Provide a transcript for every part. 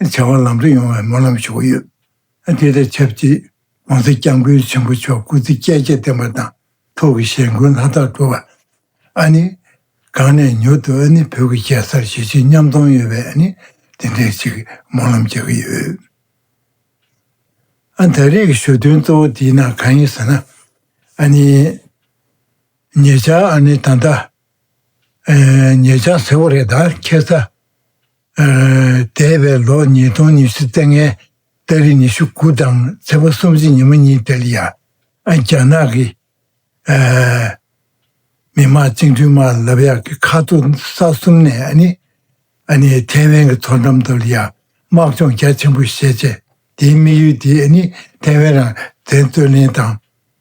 བྱ་བ་ལམ་འགྲོ་ཡོང་བའི་སྨོན་ལམ་ཞུ་གི་ཡོད། དེ་དང་ཆབས་ཅིག ྋགོང་ས ྋསྐྱབས་མགོན་ཆེན་པོ་མཆོག་སྐུ་ཚེ་བསྐལ་བརྒྱ་བརྟན་པ་དང་ཐུགས་ཀྱི་ཞལ་མགོན་ལྷ་དག་གྲུབ་པ། ཨ་ནི། གང་ནས་མྱུར་དུ་ཨ་ནི་བོད་ཀྱི་རྒྱལ་སར་ཞི་བྱེད་མཉམ་གཏོང་ཡོད་པའི་ཨ་ནི་དེ་འདྲའི་ཅིག་སྨོན་ལམ་རྒྱག་གི་ཡོད། ཨ་ད་རེས་ཀྱི་ཞུ་དོན་གཙོ་བོ་དེའི་ནང་གང་ཡིན་ཟེར་ན། ཨ་ནི། ཉེ་ཆར་ཨ་ནི་ད་ལྟ། ཉེ་ཆར་ཟེར་བ་རེད་ད་ཁྱད་མཚར། འདས་པའི་ལོ་ཉིས་སྟོང་ཉི་ཤུ་ཙེ་ལྔའི་ལྟ་རི་ཉི་ཤུ་དགུ་དང་ཚེ་བ་སུམ་ཅུ་ཉི་མ་གཉིས་དེར་ཡང་རྒྱ་ནག་གི་མི་དམངས་བཅིངས་འགྲོལ་དམག་ལབ་ཡག་གི་ཁ་ཐུག་ས་གསུམ་ནས་ཐའེ་ཝན་གི་མཐོ་འགྲམ་དུ་ཡང་དམག་སྦྱོང་རྒྱ་ཆེན་པོ་བཞེས་རྗེས་དེའི་དམིགས་ཡུལ་དེ་ཐའེ་ཝན་རང་བཙན་རྩོད་ལེན་དང།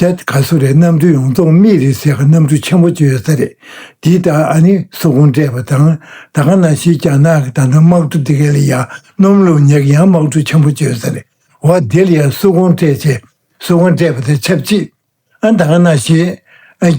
རྒྱ་གར་གསོ་རིག་གནམ་གྲུ་ཡོངས་རྫོགས་སྨིན་རིག་ཟེར་ག་གནམ་གྲུ་ཆེན་པོ་བཅུ་ཡོད་ས་རེད། འདི་ལྟར་ཨ་ནི་སོག་ཀོང་སྤྲད་པ་དང་ད་ག་ན་ཞིག་རྒྱ་ནག་གི་ད་ནང་དམག་གྲུ་དེ་ག་ལི་ཡ་སྣུམ་ལུག་ཉག་ཡང་དམག་གྲུ་ཆེན་པོ་བཅུ་ཡོད་ས་རེད་བ་འདི་ལ་ཡ་སོག་ཀོང་སྤྲད་ཅེས་སོག་ཀོང་སྤྲད་པ་དེ་ཆབས་ཅིག་ཨ་ད་ག་ན་ཞིག་ཨ།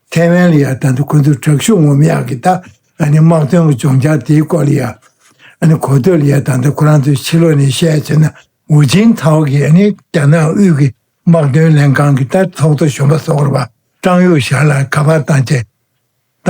ཐའེ་ཝན་ལ་ཡང་ད་དུང་ཁོ་ཚོར་དྲག་ཤུགས་ངོམ་ཡག་གི་ད་ནི་དམག་དོན་གྱི་སྦྱོང་བྱ་དེའི་སྐོར་ལ་ཡང་ཨ་གོ་ཐོས་ལ་ཡང་ད་ལྟ་ཁོ་རང་ཚོས་ཕྱི་ལོགས་ནས་བཤད་བྱས་ན་ཝུ་ཅིན་ཐའོ་གིས་ཨ་ནི་རྒྱ་ནག་དབུས་ཀྱི་དམག་དོན་ལྷན་ཁང་གི་ད་ཚོགས་གཙོ་གཞོན་པ་ཟོག་ར་པ་ཀྲང་ཡུའུ་ཞར་ལ་ག་པར་བཏང་རྗེས་ད་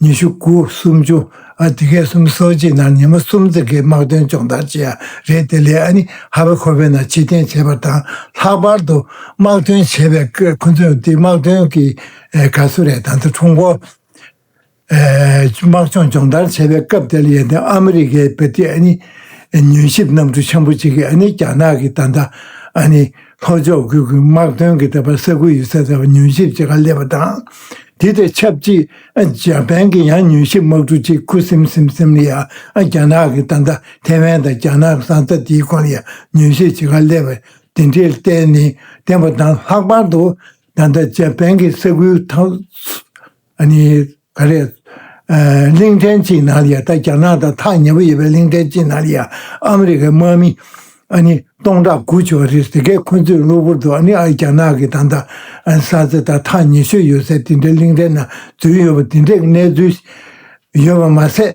ཉི་ཤུ་དགུ་སུམ་ཅུ་ཨ་དེ་གའི་གསུམ་སོ་གཅིག་ནང་ཉི་མ་གསུམ་ཙེ་གའི་དམག་དོན་སྤྱོང་བརྡར་བྱེད་ཡ་རེད་དེ་ལས་ཨ་ནི་ཧ་བེ་ཁོ་བེ་ན་ཕྱི་བསྟན་བྱེད་པ་དང་ལྷག་པར་དུ་དམག་དོན་བྱེད་པའི་སྐད་ཁོ་ཚོས་འདི་དམག་དོན་གྱི་ག་སུ་རེད་ད་ནི་ཁྲུང་གོ་དམག་སྤྱོང་སྤྱོང་བརྡར་བྱེད་པའི་སྐབས་དེ་ལ་ཡན་ཏན་ཨ་མི་རི་ཀའི་བེ་ཏི་ཨ་ནི་ཉོན་ཞིབ་གནམ་གྲུ་ཆེན་པོ་གཅིག་གིས་ཨ་ནི་རྒྱ་ནག་གིས་ད་ལྟ་ཨ་ནི། ལྷོ་ཕྱོགས་ཁུལ་གྱི་དམག་དོན་གྱི་ལྟེ་བར་ས་ཁུལ་ཡོད་ཚད་དེ་བར་ཉུལ་ཞིབ་བྱེད་ཁང་སླེབས་པ་དང། དེ་དང་ཆབས་ཅིག་འཇའ་པན་གྱི་ཡང་ཉུལ་ཞིབ་དམག་གྲུ་གཅིག་ཁུ་སིམ་སིམ་སིམ་ལི་ཡར་རྒྱ་ནག་གི་ད་ལྟ་ཐེ་ཝན་དང་རྒྱ་ནག་གི་ས་རྩ་དེའི་ཁོངས་ཡར་ཉུལ་ཞིབ་བྱེད་ཁང་སླེབས་པ་དེ་འདྲའི་ལྟས་ནས་བསྟན་པ་དང་ལྷག་པར་དུ་ད་ལྟ་འཇའ་པན་གྱི་ས་ཁུལ་དང། ཨ་ནི། ག་རེ། གླིང་ཕྲན་གཅིག་ནང་ལ་ཡང་ད་རྒྱ་ནག་དང་ཐག་ཉེ་པོ་ཡོད་པའི་གླིང་ཕྲན་གཅིག་ནང་ལ་ཡང་ཨ་མི་རི་ཀའི་དམག་མི། ཨ་ནི། སྟོང་ཕྲག་དགུ་བྱུང་བ་རེད་དེ་གས་ཁོ་ཚོས་གློ་བུར་དུ་ཨ་ནི་ཨ་རྒྱ་ནག་གི་དང་ད་ས་ཚེ་དང་ཐག་ཉེ་ཤོས་ཡོད་སའི་དེ་འདྲའི་གླིང་ཕྲན་ནང་འཛུལ་ཡོད་པ་དེ་འདྲའི་གནས་ཚུལ་ཡོད་པ་མ་ཟད།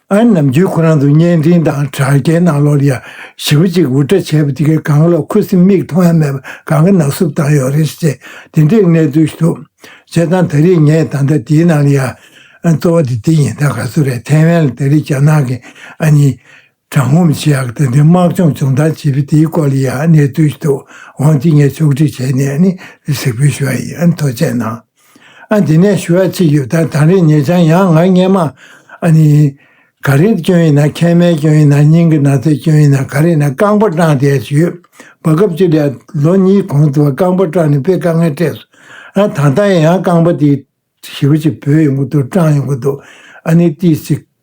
ཨན་ནམ་རྒྱུད་ཁོ་རང་ཚོ་བརྙན་འཕྲིན་དང་དྲ་རྒྱའི་ནང་ལོ་རེར་ཞི་བ་གཅིག་འུར་སྒྲ་བྱས་པ་དེ་གའི་གངས་ལོགས་ཁུ་སིམ་མེར་མཐོང་ཡ་མེད་པར་གངས་ཀྱི་ནགས་སྲུབས་དྭངས་ཡོད་རེད་ཅེས་དེ་འདྲའི་གནས་ཚུལ་ཞིག་འདུག་བྱས་ཙང་ད་རེས་ངས་ད་ལྟ་འདིའི་ནང་ལ་ཡང་གཙོ་བོ་དེ་འདི་ཡིན་ད་ག་སུ་རེད་ཐའེ་ཝན་ལ་ད་རེས་རྒྱ་ནག་གི་ཨ་ནི་ཀྲང་ཧུམ་ཆི་ཡག་ད་ལྟའི་དམག་སྦྱོང་སྦྱོང་སྟངས་བྱེད་པའི་དེའི་སྐོར་ལ་ཡང་གནས་ཚུལ་ཞིག་འདུག་ཝང་ཅི་ངས་ཕྱོགས་སྒྲིག་བྱས་ནས་ནི་གཟིགས་འབུལ་ཞུ་བ་ཡིན་མཐོ་ཆས་ནང། ཨ་འདི་ནས་ཞུ་བ་གཅིག་ཡོད་ད་དང་རིག་ངེས་ཆང་ཡང་ང་རྙེད་མ་ཨ་ནི། ག་རེ་སྐྱོན་ཡིན་ན་མཁལ་མའི་སྐྱོན་ཡིན་ན་སྙིང་གི་ན་ཚའི་སྐྱོན་ཡིན་ན་ག་རེ་ཡིན་ན་རྐང་པ་སྐྲངས་བསྡད་ཀྱི་ཡོད་བ་སྐབས་གཅིག་ལས་ལོ་གཉིས་གོང་དུ་བ་རྐང་པ་སྐྲངས་ནས་དཔེ་དཀའ་ངལ་སྤྲད་སོང་ཨ་ད་ལྟ་ཡང་རྐང་པ་དེ་ཞིབ་ཅིག་བུད་ཡོང་གི་འདུག་སྐྲངས་ཡོང་གི་འདུག་ཨ་ནི་ཏིས་ཅིག།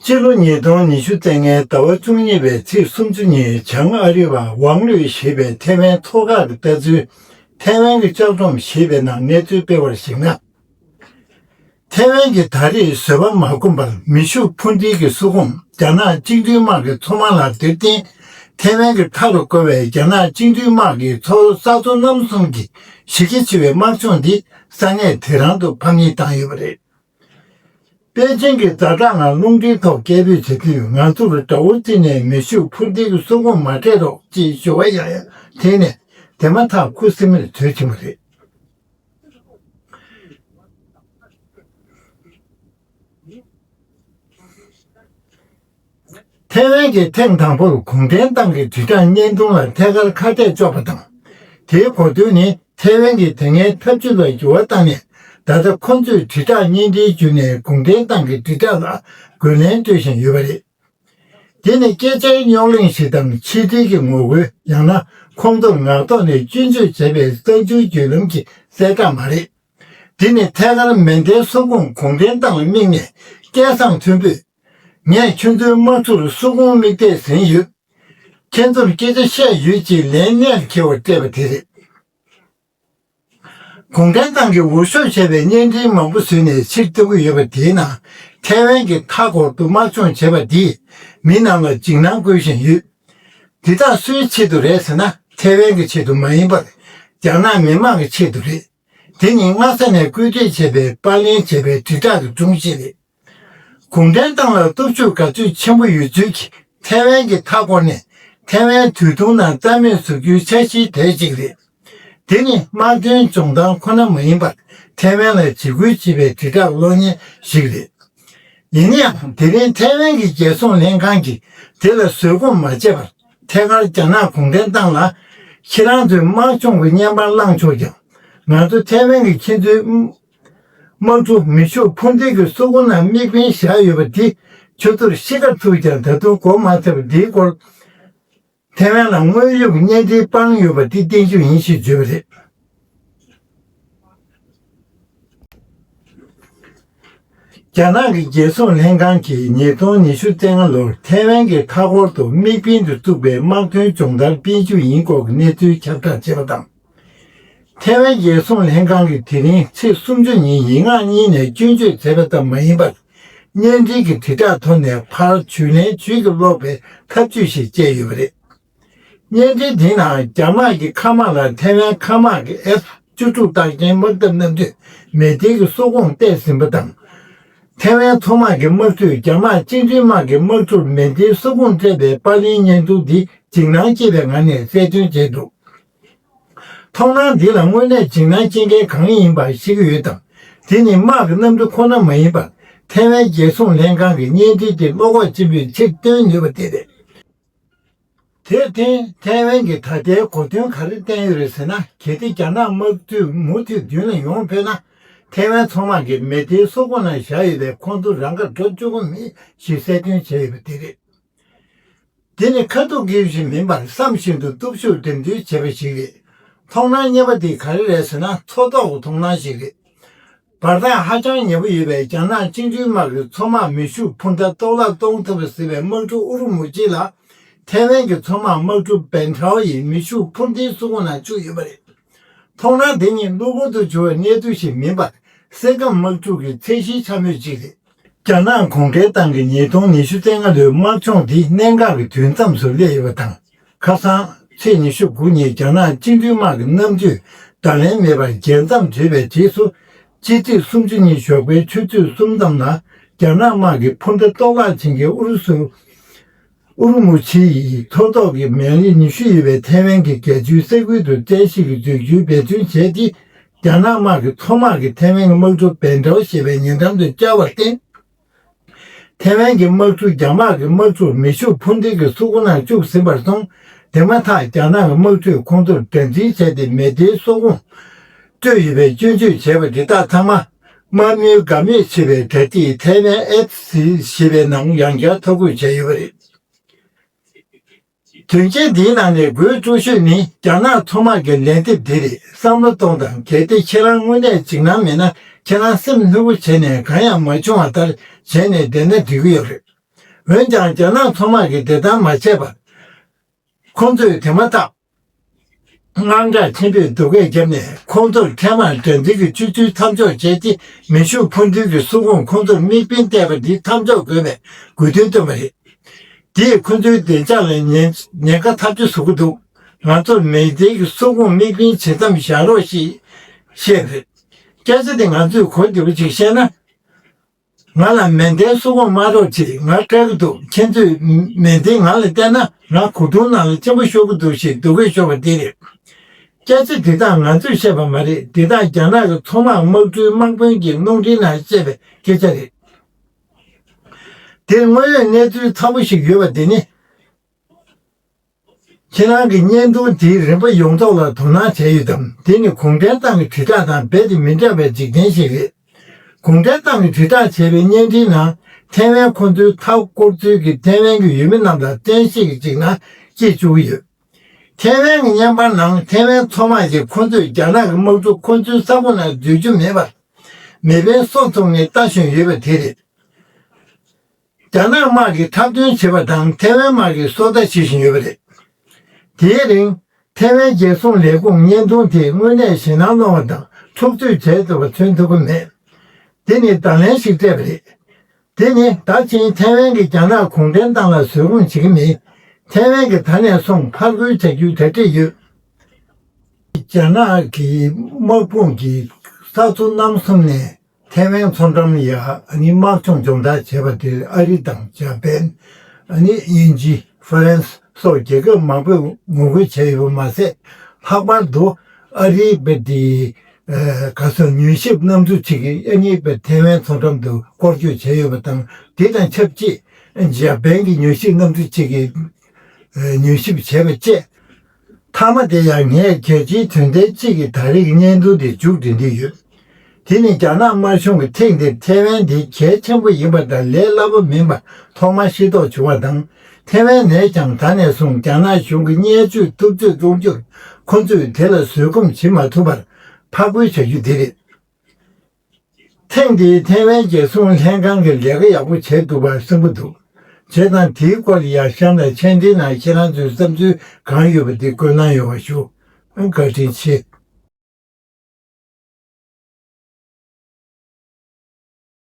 སྤྱི་ལོ་ཉིས་སྟོང་ཉི་ཤུ་ཚེས་ལྔའི་ཟླ་བ་བཅུ་གཉིས་པའི་ཚེས་སུམ་ཅུ་ཉིན་བྱང་ཨ་རི་བ་ཝང་ལུའེ་ཞེས་པའི་ཐའེ་ཝན་ཚོགས་ཁག་གིས་ལྟ་ཚུལ། ཐའེ་ཝན་གྱི་ལྕགས་སྒྲོམ་ཞེས་པའི་ནང་གནས་ཚུལ་སྤེལ་བར་གཞིགས་ན། ཐའེ་ཝན་གྱིས་ད་རེས་བཟོད་པ་མ་སྒོམ་པར་མེ་ཤུགས་འཕུར་མདེལ་གྱི་སུད་ཁོངས་རྒྱ་ནག་གཅིག་མཐུན་དམག་གི་མཚོ་མང་ལ་དེར་བརྟེན། ཐའེ་ཝན་གྱི་མཐའ་རུ་བཀོལ་བའི་རྒྱ་ནག་གཅིག་མཐུན་དམག་གི་མཚོ་ས་མཚོ་རྣམ་གསུམ་གྱི་གཞི་རྒྱ་ཆེ་བའི་དམག་སྦྱོང་འདིས་ས་གནས་དེ་རང་དུ་ཕམ་ཉེས་བཏང་ཡོད་པ་རེད། པེ་ཅིང་གི་རྫ་བྲག་ངང་རླུང་འཕྲིན་ཐོག་སྐད་འབོད་བྱེད་དུས་ང་ཚོར་དགྲ་བོ་རྩིས་ནས་མེ་ཤུགས་འཕུར་མདེལ་གྱི་སོ་གོང་མ་སྤྲད་རོགས་ཅེས་ཞུ་བ་ཡང་ཡང་དྲིས་ནས་དེ་མ་ཐག་ཁུ་སིམ་མེར་བྲོས་ཕྱིན་པ་རེད། ཐའེ་ཝན་གྱིས་ཐེངས་དང་པོར་གུང་ཁྲན་ཏང་གི་དྲིལ་བསྒྲགས་བརྙན་ཐུང་ལ་ཐད་ཀར་ཁ་གཏད་གཅོག་པ་དང། དེའི་གོ་དོན་ནི་ཐའེ་ཝན་གྱིས་དེ་སྔའི་ཐབས་ཇུས་ལ་འགྱུར་བ་བཏང་ནས་ད་ལྟ་ཁོ་ཚོས་དྲིལ་བསྒྲགས་བརྙན་འཕྲིན་བརྒྱུད་ནས་གུང་ཁྲན་ཏང་གི་དྲིལ་བསྒྲགས་ལ་རྒོལ་ལན་སྤྲོད་བཞིན་ཡོད་པ་རེད། དེ་ནི་སྐད་ཆའི་རྙོག་གླེང་ཞིག་དང་ཆིག་སྒྲིལ་གྱི་ངོ་རྒོལ་ཡང་ན་ཁོང་ཚོར་ངག་ཐོག་ནས་སྐྱོན་བརྗོད་བྱས་པའི་གསར་འགྱུར་བརྒྱུད་ལམ་གྱི་གསལ་བསྒྲགས་མ་རེད། དེ་ནི་ཐད་ཀར་མེ་མདའི་སོ་ཁུངས་གུང་ཁྲན་ཏང་ལ་དམིགས་ནས་སྐད་གསང་མཐོན་པོས། ངས་ཁྱོད་ཚོའི་དམག་ཚོར་སོ་དགོང་མིག་བལྟས་ཟིན་ཡོད། ཁྱེད་ཚོར་སྐད་ཆ་བཤད་ཡོད་ཅེས་ལན་སྔར་ཁྱེར་བར་སྤྲད་པ་དེ་རེད། གུང་ཁྲན་ཏང་གིས་འུར་ཤོབ་བྱས་པའི་བརྙན་འཕྲིན་མང་པོ་བཟོས་ནས་ཕྱིར་བཏོན་གྱི་ཡོད་པ་དེའི་ནང་ཐའེ་ཝན་གྱི་མཐའ་འཁོར་དུ་དམག་སྦྱོང་བྱས་པ་འདིས་མི་རྣམས་ལ་འཇིགས་སྣང་བསྐུལ་བཞིན་ཡོད། འདི་དག་སུའི་ཆེད་དུ་རེད་ཟེར་ན་ཐའེ་ཝན་གྱི་ཆེད་དུ་མ་ཡིན་པར་རྒྱ་ནག་མི་དམངས་ཀྱི་ཆེད་དུ་རེད། དེ་ནི་སྔ་ས་ནས་བཀོད་སྒྲིག་བྱས་པའི་པར་ལེན་བྱས་པའི་དྲིལ་བསྒྲགས་ཀྱི་སྒྲུང་ཞིག་རེད། གུང་ཁྲན་ཏང་ལ་སྟོབས་ཤུགས་ག་ཚོད་ཆེན་པོ་ཡོད་ཚུལ་གྱི་ཐའེ་ཝན་གྱི་མཐའ་སྐོར་ནི་ཐའེ་ཝན་དུས་ཐུང་ནང་རྩ་མེད་བཟོ་རྒྱུའི་འཆར་གཞིའི་གྲས་གཅིག་རེད། དེ་ནི་དམག་དོན་ལྗོངས་ཏང་ཁོ་ན་མ་ཡིན་པར་ཐའེ་ཝན་ལ་འཇིགས་སྐུལ་བྱེད་པའི་དྲིལ་བསྒྲགས་གློག་བརྙན་ཞིག་རེད། ཡིན་ཡང་དེ་རིང་ཐའེ་ཝན་གྱི་རྒྱལ་སྲུང་ལྷན་ཁང་གིས་དེ་ལ་བཟོད་སྒོམ་མ་བྱས་པར་ཐད་ཀར་རྒྱ་ནག་གུང་ཁྲན་ཏང་ལ། ཁྱེད་རང་ཚོས་དམག་སྦྱོང་གི་བརྙན་པར་བླངས་ཆོག་ཀྱང་ང་ཚོ་ཐའེ་ཝན་གྱི་ཁྱེད་ཚོའི་དམངས་གཙོ་མི་ཕྱུགས་འཕོ་འགྱུར་གྱི་གཙོ་རྐུན་ལ་དམིགས་འབེན་བཞག་ཡོད་པ་འདི་ཁྱོད་ཚོར་ཤེས་ག་ཐུབ་ཀྱང་ད་དུང་གོ་མ་ཐུབ་འདིའི་སྐོར། ཐེ་ཝན་ལ་དངོས་ཡོད་ཀྱི་གཉེན་སྒྲིག་སྤངས་ཡོད་པ་འདི་བསྟན་བཅོས་ཡིན་ཞེས་བརྗོད་པ་རེད། རྒྱ་ནག་གི་རྒྱལ་སྲུང་ལྷན་ཁང་གིས་ཉིས་སྟོང་ཉི་ཤུ་ཙེ་ལྔ་ལོར་ཐེ་ཝན་གྱི་མཐའ་འཁོར་དུ་དམིགས་འབེན་དུ་བཙུགས་པའི་དམག་དོན་སྦྱོང་བརྡར་སྤེལ་རྒྱུ་ཡིན་སྐོར་གྱི་གནས་ཚུལ་ཁྱབ་བསྒྲགས་བྱས་པ་དང། ཐའེ་ཝན་རྒྱལ་སྲུང་ལྷན་ཁང་གིས་དེ་རིང་ཚེས་སུམ་ཅུ་ཉིན་ཡིག་ངག་གཉིས་ནས་སྐྱོན་བརྗོད་མཛད་པ་ཙམ་མ་ཡིན་པར། བརྙན་འཕྲིན་གྱི་དྲིལ་བསྒྲགས་ཐོག་ནས་ཕར་བྱུས་ལན་བྱུས་ཀྱིས་སློག་པའི་ཐབས་ཇུས་ཤིག་སྤྱད་ཡོད་པ་རེད། བརྙན་འཕྲིན་དེའི་ནང་རྒྱ་དམག་གི་མཁའ་དམག་ལ་ཐའེ་ཝན་མཁའ་དམག་གི F བཅུ་དྲུག་བརྟག་མཁན་དམག་འཐབ་གནམ་གྲུས་མེ་མདའི་གི་སོག་ཁོངས་གཏད་ཟིན་པ་དང། ཐའེ་ཝན་མཚོ་དམག་གི་དམག་འཁྲུས་རྒྱ་དམག་སྤྱི་མཐུན་དམག་གི་དམག་འཁྲུར་མེ་མདའི་སོག་ཁོངས་སྤྲད་པའི་པར་ལེན་བརྙན་ཐུང་འདི་འཇིགས་སྣང་སྐྱེས་པའི་ངང་ནས་གསལ་སྟོན་བྱས་འདུག་མཐོང་སྣང་འདི་ལ་དངོས་གནས་འཇིགས་སྣང་སྐྱེ་མཁན་གང་ཡིན་པ་ཞིག་ཡོད་དམ། དེ་ནི་དམག་གི་གནམ་གྲུ་ཁོ་ན་མ་ཡིན་པར་ཐའེ་ཝན་རྒྱལ་སྲུང་ལྷན་ཁང་གི་བརྙན་འཕྲིན་གྱི་བློ་ཁོག་ཆེན་པོས་ཕྱིར་སྟོན་ནུས་པ་དེ་རེད། དེར་བརྟེན་ཐའེ་ཝན་གྱིས་ད་ལྟའི་གོ་དོན་ག་རེ་བསྟན་ཡོད་རེད་ཟེར་ན་གལ་ཏེ་རྒྱ་ནག་དམག་འཐུས་མུ་མཐུད་མདུན་ལ་ཡོང་ཕོད་ན། ཐའེ་ཝན་མཚོ་དམག་གིས་མེ་མདའི་སོ་ཁོ་ན་བཞག་ཡོད་པའི་ཁོང་ཚོ་རང་དགར་འགྲོ་བཅུག་གོ་མིན་ཞེས་གསལ་སྟོན་བྱས་ཡོད་པ་དེ་རེད། དེ་ནི་ཁ་ཐུག་དགེ་བཞིན་མིན་པར་བསམ་བཞིན་དུ་སྟོབས་ཤུགས་འགྲེམས་སྟོན་བྱས་པ་ཞིག་རེད། མཐོང་སྣང་བརྙེད་པ་དེ་ག་རེ་རེད་ཟེར་ན་མཚོ་ཐོག་གི་མཐོང་སྣང་ཞིག་རེད། བར་ཐག་ཧ་ཅང་ཉེ་པོ་ཡོད་པའི་རྒྱ་ནག་བཅིངས་འགྲོལ་དམག་གི་མཚོ་དམག་མེ་ཤུགས་འཕུར་མདའ་གཏོར་བརླག་གཏོང་ཐུབ་ཟེར་བའི་དམག་གྲུ་ཨུ་རུ་མུ་གཅིག་ལ་ཐའེ་ཝན་གྱི་མཚོ་དམག་དམག་གྲུ་བན་ཁྲའོ་ཡིས་མེ་ཤུགས་འཕུར་མདའི་སྲུང་འོག་ན་བཅུག་ཡོད་པ་རེད། མཐོང་སྣང་དེ་ནི་གློ་བུར་དུ་བྱུང་བའི་གནད་དུ་ཞིག་མིན་པར་སེམས་ཁམས་དམག་འཁྲུག་གི་ཚད་གཞིའི་འཕྱ་སྨོད་ཅིག་རེད། རྒྱ་ནག་གོང་ཁེ་ཏང་གིས་ཉིས་སྟོང་ཉི་ཤུ་ཚེས་ལྔ་ལོའི་དམག་སྦྱོང་འདི་གནད་འགག་གི་དུས་མཚམས་སུ་སླེབས་ཡོད་པ་དང། ཁ་སང། ཚེས་ཉི་ཤུ་དགུ་ཉིན་རྒྱ་ནག་སྤྱི་མཐུན་དམག་གི་གནམ་གྲུས་བརྡ་ལན་མེད་པར་རྒྱལ་མཚམས་བརྗེས་པའི་རྗེས་སུ། ཕྱི་ཚེས་སུམ་ཅུ་ཉིན་ཞོགས་པའི་ཆུ་ཚོད་གསུམ་ཙམ་ལ་རྒྱ་ནག་དམག་གིས་འཕུར་མདའ་གཏོར་བརླག་བྱིན་གྱིས་ཨུ་རུ་སུ་ཨུར་མུ་ཆི་ཡིས་མཐོ་ཐོག་གི་མི་རིགས་ཉི་ཤུ་ཡོད་པའི་ཐའེ་ཝན་གྱི་རྒྱལ་སྤྱིའི་ས་ཁུལ་དུ་བཀྲ་ཤིས་ཀྱི་འགྲུལ་སྐྱོད་འབད་བརྩོན་བྱས་ཏེ། རྒྱ་ནག་དམག་གིས་མཐོ་དམག་གིས་ཐའེ་ཝན་གྱི་དམག་གྲུ་བན་ཀྲའོ་ཞེས་པའི་ཉེ་འགྲམ་དུ་བཅར་བར་བརྟེན། ཐའེ་ཝན་གྱི་དམག་གྲུ་རྒྱ་དམག་གི་དམག་གྲུར་མེ་ཤུགས་འཕུར་མདེལ་གྱི་སོག་པོ་ནང་བཅུག་ཟིན་པར་སོང། དེ་མ་ཐག་རྒྱ་ནག་གི་དམག་གྲུས་ཁོང་ཚོར་དགྲ་འཛིན་བྱས་ཏེ་མེ་མདའི་སོག་པོ། སྤྲོད་ཡོད་པའི་སྐྱོན་བརྗོད་བྱས་པ་འདི་དག་ཚང་མ་དམར་མོའི་དགའ་མོས་ཆེ་བའི་དྲ་ཚིགས་ཐའེ་ཝན་ཨེབས་སི་ཞེས་པའི་ནང་ཡང་བསྐྱར་ཐོ་འགོད་བྱས་ཡོད་པ་རེད། དོན་རྐྱེན་འདིའི་ནང་ནས་དགོད་གཙོ་ཤོས་ནི་རྒྱ་ནག་མཚོ་དམག་གི་ལན་འདེབས་འདི་རེད་བསམ་བློ་གཏོང་དང་གལ་ཏེ་ཁྱེད་རང་དངོས་གནས་འཇིགས་སྣང་མེད་ན་ཁྱེད་རང་སེམས་ལྷོད་པོ་བྱས་ནས་གང་ཡང་མ་བྱུང་བ་ལྟར་བྱས་ནས་བསྡད་ན་འགྲིག་གི་ཡོད་རེད། འོན་ཀྱང་རྒྱ་ནག་མཚོ་དམག་གིས་དེ་ལྟར་མ་བྱས་པར། ཁོང་ཚོས་དེ་མ་ཐག། དངངས་སྐྲག་ཆེན་པོས་སྡུག་སྐད་བརྒྱབ་ནས་ཁོང་ཚོར་འཕྲལ་མར་དགྲ་འདུལ་གྱི་སྤྱོད་ཚུལ་མཚམས་འཇོག་བྱས་ཏེ་མེ་ཤུགས་འཕུར་མདུན་གྱི་སྲུང་ཁོངས་ཁོང་ཚོར་དམིགས་འབེན་གཏད་པ་འདི་མཚམས་འཇོག་དགོས་པའི་དགོས་འདུན་བཏོན་པ་རེད། འདིས་ཁོང་ཚོའི་བདེ་འཇགས་ལ་ཉེན་ཁ་ཐག་གཅོད་བཟོ་གི་འདུག་ང་ཚོར་མེ་མདའི་གི་སྲུང་ཁོངས་དམིགས་འབེན་བྱེད་མཚམས་བཞག་རོགས་ཞེས་བཤད། སྐད་ཆ་འདི་ང་ཚོས་གོ་བདེ་པོ་གཅིག་བཤད་ན། ང་ལ་མལ་གདན་སུ་གོང་མ་རོགས་ཅིག་ང་སྐྲག་གི་འདུག་ཁྱེད་ཚོས་མལ་གདན་ང་ལ་སྟན་ན་ང་གོ་དྲུང་ནང་ལ་ཆེན་པོ་ཤོར་གི་འདུག་ཞེས་སྡུག་སྐད་ཤོར་བ་འདི་རེད། སྐད་ཆ་འདི་དག་ང་ཚོས་བཤད་པ་མ་རེད་འདི་དག་རྒྱ་ནག་གི་མཚོ་དམག་དམག་གྲུའི་དམག་དཔོན་གྱིས་རླུང་འཕྲིན་ནང་བཤད་པའི་སྐད་ཆ་རེད། འདིར་དངོས་ཡོད་གནས་ཚུལ་ཚང་པོ་ཞིག་ཡོད་པ་འདི་ནི། ཁྱེད་རང་གི་བརྙན་ཐུང་དེའི་རིམ་པ་ཡོངས་རྫོགས་ལ་དོ་སྣང་བྱས་ཡོད་དམ་དེ་ནི་གུང་ཁྲན་ཏང་གི་དྲིལ་བསྒྲགས་དང་རྦད་དེ་མི་འདྲ་བའི་འཇིག་རྟེན་ཞིག་རེད། གུང་ཁྲན་ཏང་གི་དྲིལ་བསྒྲགས་བྱས་པའི་བརྙན་འཕྲིན་ནང་ཐའེ་ཝན་ཁོ་ཚོའི་མཐའ་བསྐོར་ཚུལ་གྱིས་ཐའེ་ཝན་གྱི་ཡུལ་མི་རྣམས་ལ་བཙན་ཤེད་ཀྱིས་ཅིག་ན་སྐྱེལ་བཅུག་གི་ཡོད། ཐའེ་ཝན་གྱི་བརྙན་པར་ནང་ཐའེ་ཝན་མཚོ་དམག་གིས་ཁོ་ཚོས་རྒྱ་ནག་གི་དམག་གྲུ་ཁོ་ཚོའི་ས་ཁོངས་ནང་སྡོད་རྒྱུ་མེད་པར། མེ་འཕེན་སོགས་འཚོང་མཁན་ལྟ་བཞིན་ཡོད་པ་དེ་རེད། རྒྱ་ནག་དམག་གིས་འཁྲབ་སྟོན་བྱེད་པ་དང་ཐེ་ཝན་དམག་གིས་སོ་ལྟ་བྱེད་བཞིན་ཡོད་པ་རེད། དེའི་རིང། ཐེ་ཝན་རྒྱལ་སྲུང་ལས་ཁུངས་བརྙན་ཐུང་དེས་དངོས་གནས་ཞེད་སྣང་སློང་བ་དང་འཁྲུག་རྩོད་བྱས་ཚར་བ་མཚོན་ཐུབ་ཀྱི་མེད། དེ་ནི་བརྡ་ལན་ཞིག་སྤྲད་པ་རེད། དེ་ནི་ད་ཕྱིན་ཐེ་ཝན་གྱིས་རྒྱ་ནག་གུང་ཁྲན་ཏང་ལ་བཟོད་སྒོམ་བྱེད་ཀྱི་མེད། ཐེ་ཝན་གྱིས་ད་ནས་བཟུང་ཕར་རྒོལ་བྱ་རྒྱུའི་གྲ་སྒྲིག་ཡོད། རྒྱ་ནག་གི་དམག་དཔུང་གིས་ས་མཚོ་གནམ་གསུམ་ནས་ཐའེ་ཝན་མཚོ་འགྲམ་ཡ་ནི་དམག་སྦྱོང་སྦྱོང་བརྡར་བྱས་པ་དེར་ཨ་རི་དང་འཇར་པན། ཨ་ནི་དབྱིན་ཇི་ཧྥ་རན་སི་སོགས་རྒྱལ་ཁབ་མང་པོས་ངོ་རྒོལ་བྱས་ཡོད་པ་མ་ཟད། ལྷག་པར་དུ་ཨ་རིའི་དཔེ་དེབ་ག་སོགས་མྱུལ་ཞིབ་རྣམ་འགྱུར་ཅིག་གིས་ཨ་ནི་དཔེ་ཐའེ་ཝན་མཚོ་འགྲམ་དུ་སྐོར་སྐྱོད་བྱས་ཡོད་པ་དང་དེ་དང་ཆབས་ཅིག་འཇར་པན་གྱི་མྱུལ་ཞིབ་རྣམ་འགྱུར་ཅིག་གིས་མྱུལ་ཞིབ་བྱས་པ་བཅས། མཐའ་མ་དེ་ཡང་ངས་རྒྱལ་སྤྱིའི་དོན་ལྡན་གཅིག་གི་ད་རེས་ཀྱི་བརྙན་ཐུང་དེ་མཇུག་བསྡུ་འདོད་ཡོད། དེ་ནི་རྒྱ་ནག་དམར་གཞུང་གིས་ཐེངས་འདིར་ཐེ་ཝན་དེ་གལ་ཆེན་པོ་ཡིན་པ་དང་ལས་སླ་པོ་མིན་པ་ཐོག་མར་ཤེས་རྟོགས་བྱུང་བ་དང། ཐེ་ཝན་ནས་ཀྱང་ད་ནས་བཟུང་རྒྱ་ནག་གཞུང་གི་བརྙས་བཅོས་ཐུབ་ཚོད་གཏོང་རྒྱུར་ཁོ་ཚོས་དེ་ལ་བཟོད་སྒོམ་བྱེད་མ་ཐུབ་པར་ཕར་རྒོལ་བྱ་རྒྱུ་དེ་རེད། ཐེངས་འདིའི་ཐའེ་ཝན་རྒྱལ་སྲུང་ལྷན་ཁང་གི་ལས་ཀ་ཡག་པོ་བྱས་འདུག་པར་སེམས་པོ་འདུག་བྱས་དང་དེའི་སྐོར་ཡང་གཤམ་ལ་མཆན་འདིའི་ནང་ཁྱེད་རང་ཚོའི་བསམ་ཚུལ་གང་ཡོད་པ་དེ་བཀོད་གནང་ཡོང་བ་ཞུ། བཀའ་དྲིན་ཆེ།